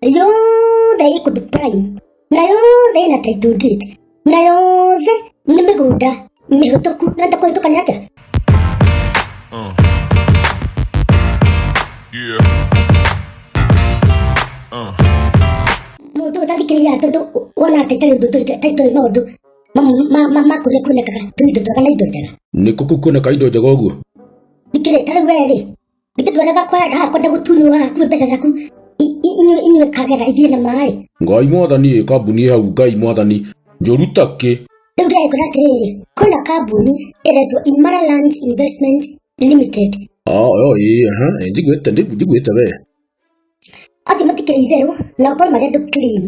na yothe ĩ kũndũ prime na yothe ĩna title deed na yothe nĩ mĩgũnda mĩhũtũku na takũhĩtũkania atĩa Uh. Yeah. Uh. mũndũ ũtathikĩrĩria tondũ wona atĩ itarĩ ũndũ taitũ ĩ maũndũ mamwe ma- ma- ma kũrĩa kuonekaga tũindo twega na indo njega nĩ kũkũ kuoneka indo njega ũguo thikĩrĩ tarĩu wee rĩ Ningĩ ndwonaga kwa ndakũnda gũtunywo haha kuwe mbeca ciaku I- i- inyuĩ inyuĩ kagera ithiĩ na maĩ. ngai mwathani ĩ kambuni ĩ hau ngai mwathani njũru takĩ Rĩu ndĩrekora atĩrĩrĩ, kwĩna kambuni ĩretwo Imara Lands Investment Limited. oyo ĩ aha ĩ, njiguĩte ndigu- njiguĩte we Acio matikĩrĩ itherũ na ũkorwo marĩ andũ clean.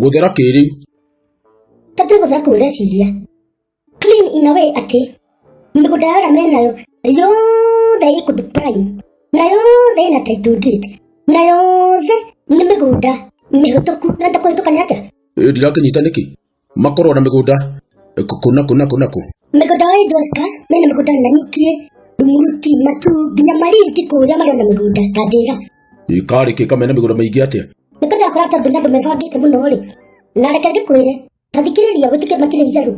gũthera kĩrĩu Tatuĩ gũthera kũu ũreciria. clean in a way atĩ mĩgũnda ya wĩra menayo yothe ĩkũndũ prime na yothe ĩna title deed na yothe nĩ mĩgũnda mĩhũtũku na takũhĩtũkania atĩa ndirakĩnyita nĩkĩ makorwo na mĩgũnda kũ na kũ na kũ na kũ mĩgũnda wa Idwaska mena mĩgũnda na nyukie muruti matu nginya marindi kũrĩa marĩ na mĩgũnda ta ndĩra ikarĩkĩka mena mĩgũnda mĩingĩ atĩa nĩkũndakora tondũ na andũ mebangĩte mũno rĩ na reke ngĩkwĩre tathikĩrĩria wĩtĩkĩre makĩria itherũ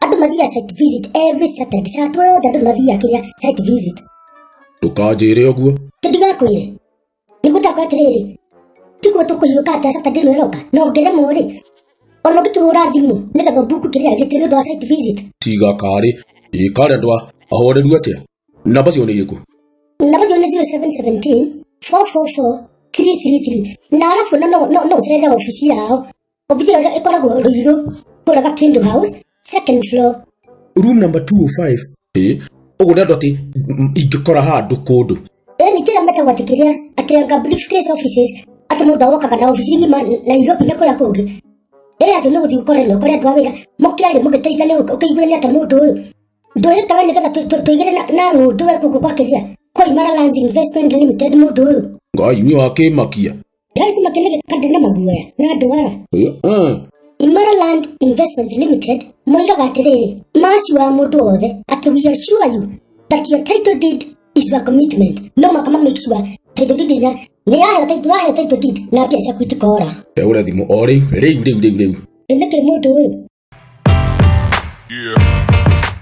andũ mathiaga site visit every saturday saa twothe andũ mathiaga kĩrĩa site visit ndũkanjĩre ũguo tũtigakwĩre nĩgũtakwa atĩrĩrĩ tiguo tũkũhiũka atĩ saturday ĩno ĩroka na ũngĩremwo rĩ ona ũngĩtũhũra thimũ nĩgetha ũbuku kĩrĩa gĩtĩ nĩ ũndũ wa site visit tiga karĩ ĩ karendwa ahoreru atĩa namba cio nĩ irĩkũ namba cio nĩ 0717 444 333 na arabu na no no no ũcerere obici yao Obici ĩyo ĩkoragwo Ruiru, Kũraga Kindu House, second floor. room number 205 ĩ ũguo nĩ andũ atĩ mm, ingĩkora handũ kũndũ Ĩyo nĩ njĩra metagwo atĩ kĩrĩa atĩ anga briefcase offices atĩ mũndũ agokaga na obici ng'ima Nairobi na kũrĩa kũngĩ. Ĩyo atĩ nĩ gũthiĩ gũkorwo nĩ ũkorĩa andũ a wĩra mũkĩaria mũgĩteithania ũkĩiguĩra nĩ atĩa mũndũ ũyũ. Ndũhĩta we nĩgetha tũ- tũ- tũigĩre na- na ng'ũndũ we gũkũ gwa kĩrĩa kwa Imara Lands Investment Limited mũndũ ũyũ. ngai nĩ wakĩmakia Ndĩrathi makenere kandi na maguoya na andũ ara. Ũyũ, mm. Imara Land Investments Limited moigaga atĩrĩrĩ, maciwa mũndũ wothe atĩ we assure you that your title deed is your commitment. No mũhaka ma make sure title deed ĩrĩa nĩ yaheo title waheo title deed na mbia ciaku itikora. Ndagũra thimũ o rĩu, rĩu, rĩu, rĩu, rĩu. Ĩthĩkĩrĩ mũndũ ũyũ Yeah.